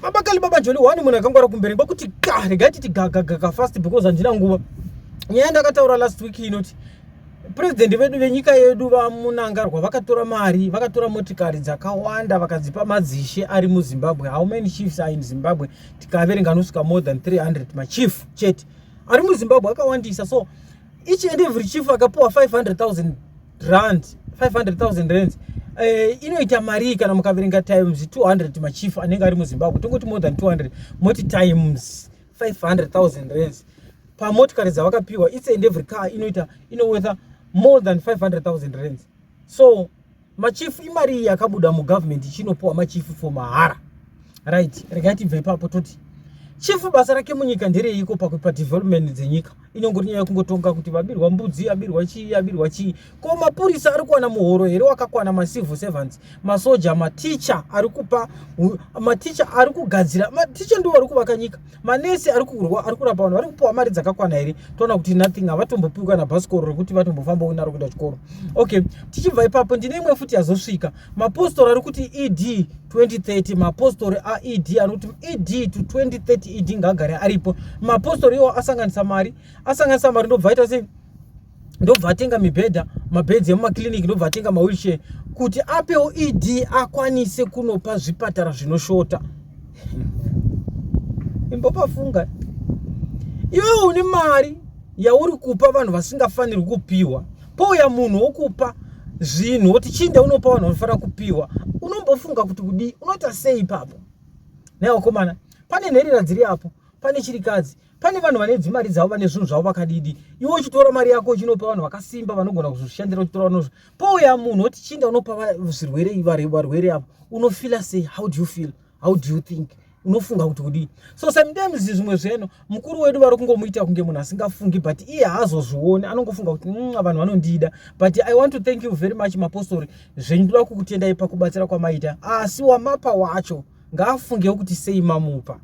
baba kali baba joli one munhu akangwara kumberi kwakuti ka regai titi gagagaga fast because handina nguva nyaya ndakataura last week inoti purezidendi vedu venyika yedu vamunangarwa vakatora mari vakatora motikari dzakawanda vakadzipa madzishe ari muzimbabwe how many chiefs are in zimbabwe tikaverenga anosvika more than 300 machief chete ari muzimbabwe akawandisa so each and every chief akapiwa 500 000 rand 500000 rands Eh, inoita marii kana mukaverenga times 200 machief anenge ari muzimbabwe tongoti more than 200 moti times 500000 rands pamotikari dzavakapiwa its and every car inoita inowetha more than 500000 rands so machief imari yakabuda mugovernment ichinopiwa machief for mahara right regai tibve ipapo toti chifu basa rake munyika ndereiko pakupa development dzenyika inongori nyaya yekungotonga kuti vabirwa mbudzi abirwa chii abirwa chii ko mapurisa ari kuwana muhoro here wakakwana macivil servants masoja maticha ari kupa maticha ari kugadzira maticha ndiwo ari kuvaka nyika manesi ari kurwa ari kurapa vanhu vari kupiwa mari dzakakwana here toona kuti nothing havatombopiwi kana bhasikoro rekuti vatombofambawo naro kuenda chikoro okay tichibva ipapo ndine imwe futi yazosvika mapostori ari kuti ed 2030 mapostori aed anokuti ed to 2030 ed ngaagare aripo mapostori iwo asanganisa mari asanganisa mari ndobva aita sei ndobva atenga mibhedha mabeds emumakliniki ndobva atenga mawheelchair kuti apewo ed akwanise kunopa zvipatara zvinoshota imbopafunga iwewe une mari yauri kupa vanhu vasingafanirwi kupiwa pouya munhu wokupa zvinhu woti chinde unopa vanhu vanofanira kupiwa unombofunga kuti kudii unoita sei ipapo naiwakomana pane nherera dziri apo pane chirikadzi pane vanhu vane dzimari dzavo vane zvinhu zvavo vakadidi iwe uchitora mari yako uchinopa vanhu vakasimba vanogona kuzvishandira uchitora vanozvo pouya munhu oti chinda unopa zvirwere varwere avo unofila sei how do you feel how do you think unofunga kuti kudii so sometimes zvimwe zveno mukuru wedu vari kungomuita kunge munhu asingafungi but iye haazozvioni anongofunga kuti mm, vanhu vanondida but i want to thank you very much mapostori zvenyu ndoda kukutendai pakubatsira kwamaita asi wamapa wacho ngaafungewo kuti sei mamupa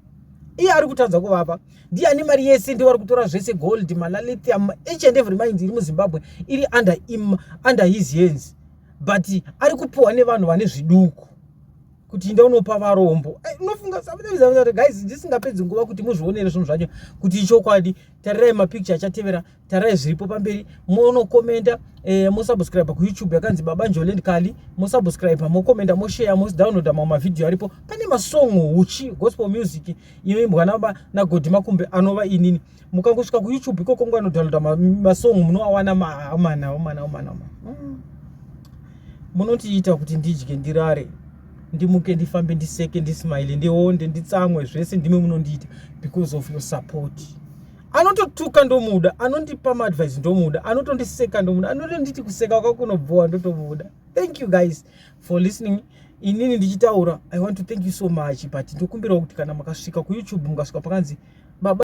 iye ari kutadza kuvapa ndiye ane mari yese ndiye wari kutora zvese gold malalithium each and every mind iri muzimbabwe iri under, im, under his hands but ari kupiwa nevanhu vane zviduku kuti inda unopa varombo eh, unofunga guys ndisingapedzi nguva kuti muzvionere zvinhu zvacho kuti ichokwadi tarirai mapicture achatevera tarai zviripo pamberi monokomenda eh, mosubscribe kuyoutube yakanzi baba njoland kali mosubscribe mokomenda moshare modownloada mamwe mavhidhiyo aripo pane masongo huchi gospel music inoimbwa naba nagodhi makumbe anova inini mukangosvika kuyoutube ikoko ngo anodownloada masongo munoawana maamana omana omana omana mm. munotiita kuti ndidye ndirare ndimuke ndifambe ndiseke ndismile ndionde nditsamwe zvese ndimwe munondiita because of your support anototuka ndomuda anondipa maadvice ndomuda anotondiseka ndomuda anotonditi kuseka kwako kunobhowa ndotomuda thank you guys for listening inini ndichitaura i want to thank you so much but ndokumbirawo kuti kana makasvika kuyoutube mukasvika pakanzi baba